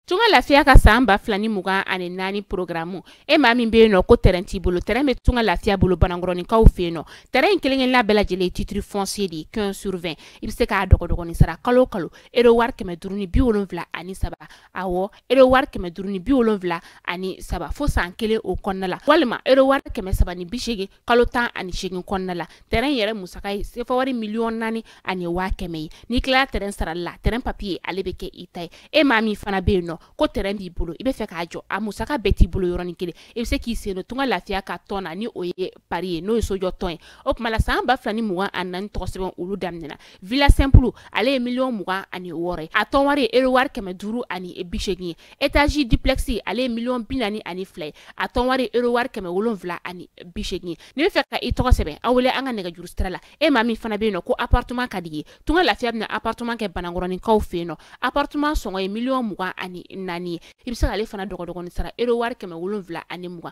Tunga lafiya ka san ba fila ni mugan ani naani porogaramu e maa min bɛ yen nɔ ko tɛrɛn t'i bolo tɛrɛn bɛ tunga lafiya bolo banankɔrɔninkaw fɛ yen nɔ tɛrɛn in kelen-kelenna bɛɛ lajɛlen titiri fɔnsiye de ye quinze sur vingt i bɛ se k'a dɔgɔdɔgɔnin sara kalo o kalo ero wari kɛmɛ duuru ni bi wolonwula ani saba awɔ ero wari kɛmɛ duuru ni bi wolonwula ani saba fo san kelen o kɔnɔna la walima ero wari kɛmɛ saba ni bi seegin kalo tan ani seegin kɔnɔna la tɛrɛn yɛrɛ musaka ye sefa wari miliyɔn naani ani waa kɛmɛ ye n'i tilala tɛrɛn sarali la tɛrɛn papiye ale bɛ kɛ i ta ye e maa min fana bɛ yen nɔ ko tɛrɛn b'i bolo i bɛ fɛ k'a jɔ a musaka bɛɛ t'i bolo yɔrɔnin kelen i bɛ se k'i sen don tunga lafiya ka tɔn na ni o ye pari ye n'o ye sojɔ tɔn ye o tuma la san ba fila ni mugan ani naani tɔgɔ sɛbɛn olu daminɛna villa simple ale ye miliyɔn mugan ani wɔɔrɔ ye a tɔn wari ye euro wari kɛmɛ duuru ani bi seegin ye étage duplex ale ye miliyɔn bi naani ani fila ye a tɔn wari ye euro wari kɛmɛ wolonwula ani bi seegin ye n'i bɛ fɛ ka i tɔgɔ sɛbɛn a wele an ka nɛgɛjuru sira la e maa min fana bɛ yen nɔ ko appartement ka d'i ye tunga lafiya bɛna appartement kɛ banankɔrɔninkaw fɛ yen nɔ appartement sɔngɔ ye miliyɔn mugan ani naani ye i bɛ se k'ale fana dɔgɔdɔgɔnin sara euro wari kɛmɛ wolonwula ani mugan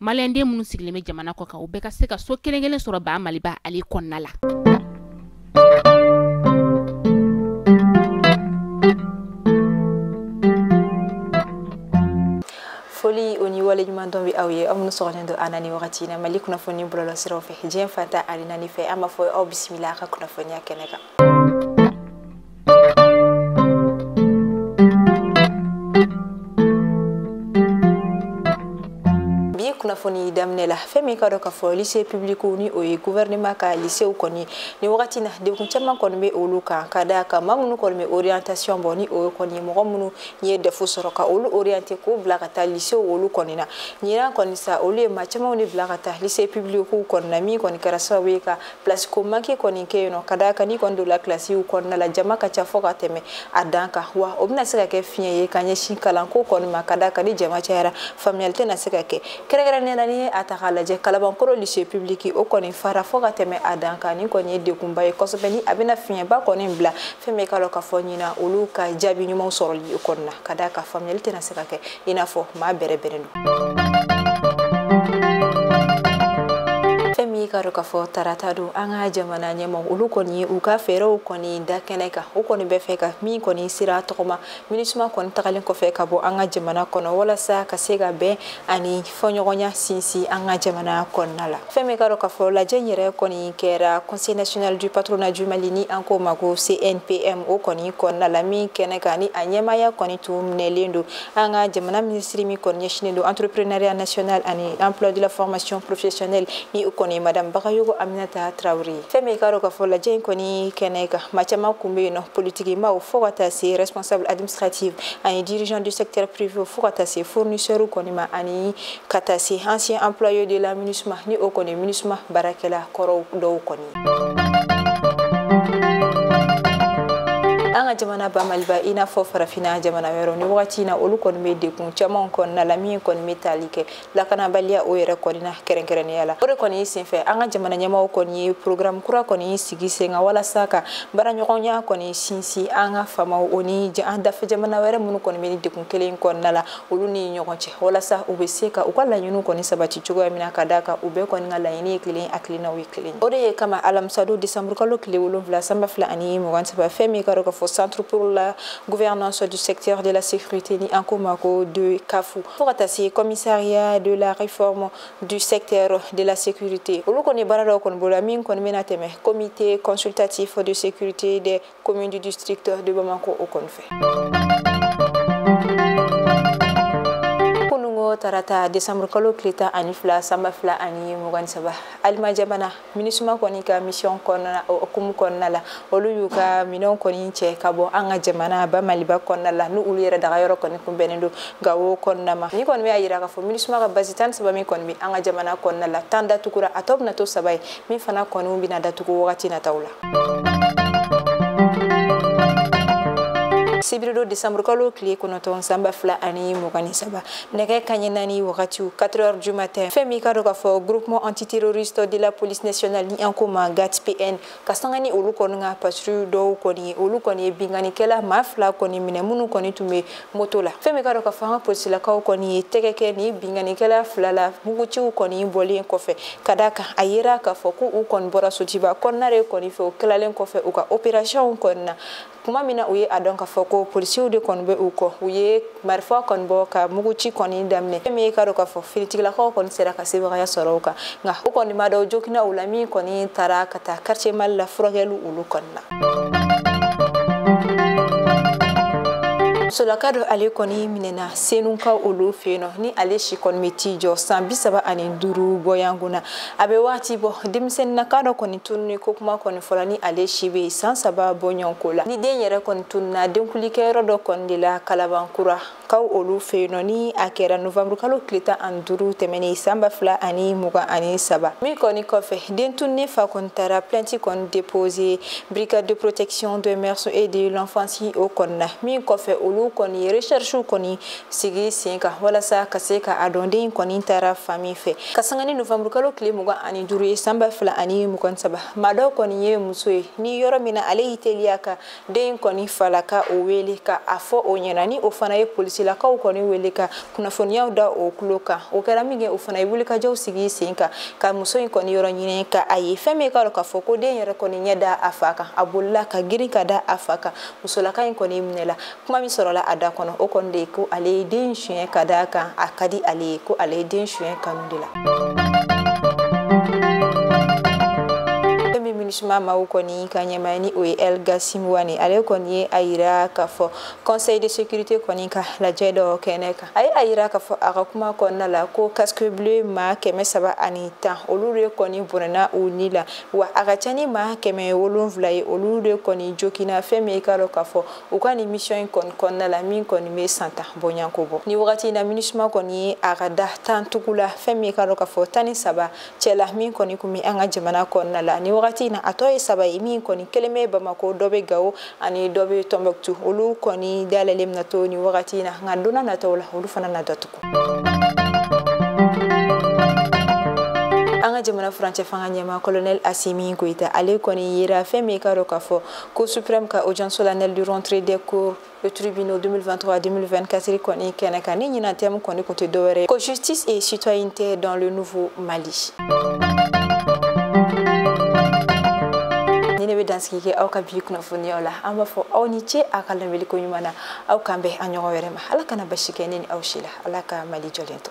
maliyɛnden minnu sigilen bɛ jamana kɔ kan u bɛɛ ka se ka so kelen kelen sɔrɔ ba maliba ale kɔnɔna la foli o ni waleɲuman dɔn bɛ aw ye aw minnu sɔgɔlen don an na ni wagati na mali kunnafoni bɔlɔlɔ siraw fɛ diɲɛ fan tan ani naani fɛ an b'a fɔ aw bisimila a ka kunnafoniya kɛnɛ kan kunnafoni daminɛ la fɛn min k'a dɔn k'a fɔ lise publikiw ni o ye guvɛrɛnema ka lisew kɔni ni wagati na degun caman kɔni bɛ olu kan ka d'a kan maa minnu kɔni bɛ orientation bɔ ni o ye kɔni mɔgɔ minnu ye dɛfu sɔrɔ ka olu oriente k'u bila ka taa lisew olu kɔni na ɲinan kɔni sa olu ye maa camanw de bila ka taa lise publikiw kɔni na min kɔni kɛra sababu ye ka pilasi ko manki kɔni kɛ yen nɔ ka d'a kan n'i kɔni donna kilasiw kɔnɔna la jama ka ca fo ka tɛmɛ a dan kan wa o bɛna se ka kɛ fiɲɛ ye ka ɲɛsin kalanko kɔni ma ka d'a kan ni jama cayara faamuyali tɛna se ka kɛ kɛrɛnkɛrɛnnenya la n'i ye a ta k'a lajɛ kalabankoro lise pibiliki o kɔni fara fo ka tɛmɛ a dan kan nin kɔni ye degunba ye kosɛbɛ ni a bɛna fiɲɛba kɔni bila fɛn min k'a dɔn k'a fɔ ɲinan olu ka jaabi ɲumanw sɔrɔli kɔni na ka d'a kan faamuyali tɛna se ka kɛ i n'a fɔ maa bɛrɛ bɛrɛ don fɛn min k'a dɔn k'a fɔ tarata don an ka jamana ɲɛmɔ olu kɔni ye u ka fɛɛrɛw kɔni da kɛnɛ kan u kɔni bɛ fɛ ka min kɔni sira tɔgɔma minusma kɔni tagalen kɔfɛ ka bɔ an ka jamana kɔnɔ walasa ka se ka bɛn ani fɔɲɔgɔnya sinsin an ka jamana kɔnɔna la fɛn min k'a dɔn k'a fɔ lajɛ in yɛrɛ kɔni kɛra conseil national du patronat du mali ni an k'o ma ko cnpm o kɔni kɔnɔna la min kɛnɛ kan ni a ɲɛmaya kɔni tun minɛlen don an ka jamana minisiri min kɔni ɲɛsinen don entrepreneuriat national ani emploi de la formation professionnelle ni o kɔni madame bagayogo aminata tarawele fɛn min k'a dɔn k'a fɔ lajɛ in kɔni kɛnɛ kan maa caman kun bɛ yen nɔ politikimaaw fo ka taa se responsable administrative ani dirigeant du secteur privé fo ka taa se fournisseur kɔni ma ani ka taa se ancien employé de la minusma ni o kɔni minusma baarakɛla kɔrɔw dɔw kɔni an ka jamana ba maliba i n'a fɔ farafina jamana wɛrɛw nin wagati na olu kɔni bɛ degun camanw kɔnɔna la min kɔni bɛ tali kɛ lakanabaliya o yɛrɛ kɔni na kɛrɛnkɛrɛnnenya la o de kɔni senfɛ an ka jamana ɲɛmɔgɔ kɔni ye programme kura kɔni sigi sen kan walasa ka baaraɲɔgɔnya kɔni sinsin an ka faamaw o ni an dafɛ jamana wɛrɛ minnu kɔni bɛ nin degun kelen kɔnɔna la olu ni ɲɔgɔn cɛ walasa u bɛ se ka u ka laɲiniw kɔni sabati cogoya min na ka d'a kan u bɛɛ kɔni ka laɲini ye kelen hakilinaw ye kelen o de ye kama alamisadon desanburukalo tile wolonwula sanba fila ani mugan saba fɛn min ka dɔ k'a fɔ centre pour la gouvernance du secteur de la sécurité ni an ko ma ko DCAF fo ka taa se commissariat de la réforme du secteur de la sécurité. Olu kɔni ye baara dɔ kɔni boloda min kɔni bɛna tɛmɛ comité consultatif de sécurité des communes du district de Bamako o kɔni fɛ. Kunun ko tarata décembre kalo tile tan ani fila sanba fila ani mugan ni saba aliman jamana minisuma kɔni ka misiyɔn kɔnɔna hukumu kɔnɔna la olu y'u ka minɛnw kɔni cɛ ka bɔ an ka jamana ba maliba kɔnɔna la ni olu yɛrɛ daga yɔrɔ kɔni kunbɛnnen don gawo kɔnɔna ma nin kɔni b'a yira k'a fɔ minisuma ka bazi tan ni saba min kɔni bɛ an ka jamana kɔnɔna la tan datugura a tɔ bɛna to saba ye min fana kɔni bɛna datugu wagati nataw la sibiridon desanburukalo tile kɔnɔntɔn sanba fila ani mugan ni saba nɛgɛ kanɲɛ naani wagatiw 4 heures du matin fɛn min ka dɔ k'a fɔ groupement antiterroriste de la police nationale ni an ko ma gat pn ka sanga ni olu kɔni ka patrouille dɔw kɔni ye olu kɔni ye binkannikɛla maa fila kɔni minɛ minnu kɔni tun bɛ moto la fɛn min ka dɔ k'a fɔ an ka polisilakaw kɔni ye tɛgɛ kɛ nin binkannikɛla fila la muguciw kɔni bɔlen kɔfɛ ka da kan a yera k'a fɔ ko u kɔni bɔra sotuba kɔnɔna de kɔni fɛ u tilalen kɔfɛ u ka opérationw kɔni na kuma min na u ye a dɔn k'a fɔ ko polisiw de kɔni bɛ u kɔ u ye marifa kɔni bɔ ka muguci kɔni daminɛ fɛn min ye k'a dɔn k'a fɔ finitigilakaw kɔni sera ka sebagaya sɔrɔ u kan nka u kɔni maa dɔw joginna u la min kɔni taara ka taa quartier mali la furakɛli olu kɔni na musolaka dɔ ale kɔni minɛna senukaw olu fɛ yen nɔ ni ale si kɔni bɛ t'i jɔ san bi saba ani duuru bɔɲɔgɔnko na a bɛ wagati bɔ denmisɛnninnaka dɔ kɔni tununni ko kuma kɔni fɔla ni ale si bɛ san saba bɔɲɔgɔn ko la ni den yɛrɛ kɔni tununa denkunlikɛyɔrɔ dɔ kɔni de la kalabankura kaw olu fɛ yen nɔ ni a kɛra novanburu kalo tile tan ani duuru tɛmɛnen san ba fila ani mugan ani saba min kɔni kɔfɛ den tununnen fa kɔni taara plainte kɔni déposer brigade de protection des mœurs et de l'enfance o kɔni na min kɔfɛ olu kɔni recherche kɔni sigi sen kan walasa ka se ka a dɔn den kɔni taara fan min fɛ ka sanga ni novanburukalo tile mugan ani duuru ye san ba fila ani mugan saba maa dɔ kɔni ye muso ye ni yɔrɔ min na ale y'i teliya ka den kɔni falakaw wele ka a fɔ o ɲɛna ni o fana ye polisilakaw kɔni wele ka kunnafoniyaw da o kulo kan o kɛra minkɛ o fana ye wulikajɔw sigi sen kan ka muso in kɔni yɔrɔ ɲini ka a ye fɛn min k'a dɔn k'a fɔ ko den yɛrɛ kɔni ɲɛ da a fa kan a bolila ka girin ka da a fa kan musolaka in kɔni minɛla kuma min sɔrɔla a da kɔnɔ o kɔni de ye ko ale ye den suɲɛ ka d'a kan a ka di ale ye ko ale ye den suɲɛ kanu de la min minusuma maw kɔni ka ɲɛmaa ni o ye El Ghassim Wane ale kɔni ye a yira k'a fɔ conseil de sécurité kɔni ka lajɛ dɔ kɛnɛ kan a ye a yira k'a fɔ a ka kuma kɔnɔna la ko casque bleu ma kɛmɛ saba ani tan olu de kɔni bɔnɛna u ni la wa a ka ca ni ma kɛmɛ wolonwula ye olu de kɔni joginna fɛn min ye k'a dɔn k'a fɔ u ka nin misiyɔn in kɔni kɔnɔna la min kɔni bɛ san tan bɔɲɔnko bɔ ni wagati in na minisuma kɔni ye a ka da tan tugu la fɛn min ye k'a dɔn k'a fɔ tan ni saba cɛla min kɔni kun bɛ an ka jamana kɔnɔna la ni wagati in na a tɔ ye saba ye min kɔni kelen bɛ bamako dɔ bɛ gawo ani dɔ bɛ tɔnbɔkutu olu kɔni dayɛlɛlen bɛna to ni wagati in na nka donna nataw la olu fana na datugu an ka jamana furancɛ fanga ɲɛma colonel asimi goyita ale kɔni yera fɛn min ye k'a dɔn k'a fɔ Cour suprême ka audience solennelle du rentrée des cours et tribunal 2023-2024 kɔni kɛnɛ kan ni ɲinan tɛmu kɔni kun tɛ dɔwɛrɛ ko justice et citoyenneté dans le nouveau mali ni ne bɛ dansigi kɛ aw ka bi kunnafoniyaw la an b'a fɔ aw ni ce a ka lamɛliko ɲuman na aw k'an bɛn a ɲɔgɔn wɛrɛ ma ala kana basi kɛ ne ni aw si la ala ka mali jɔlen to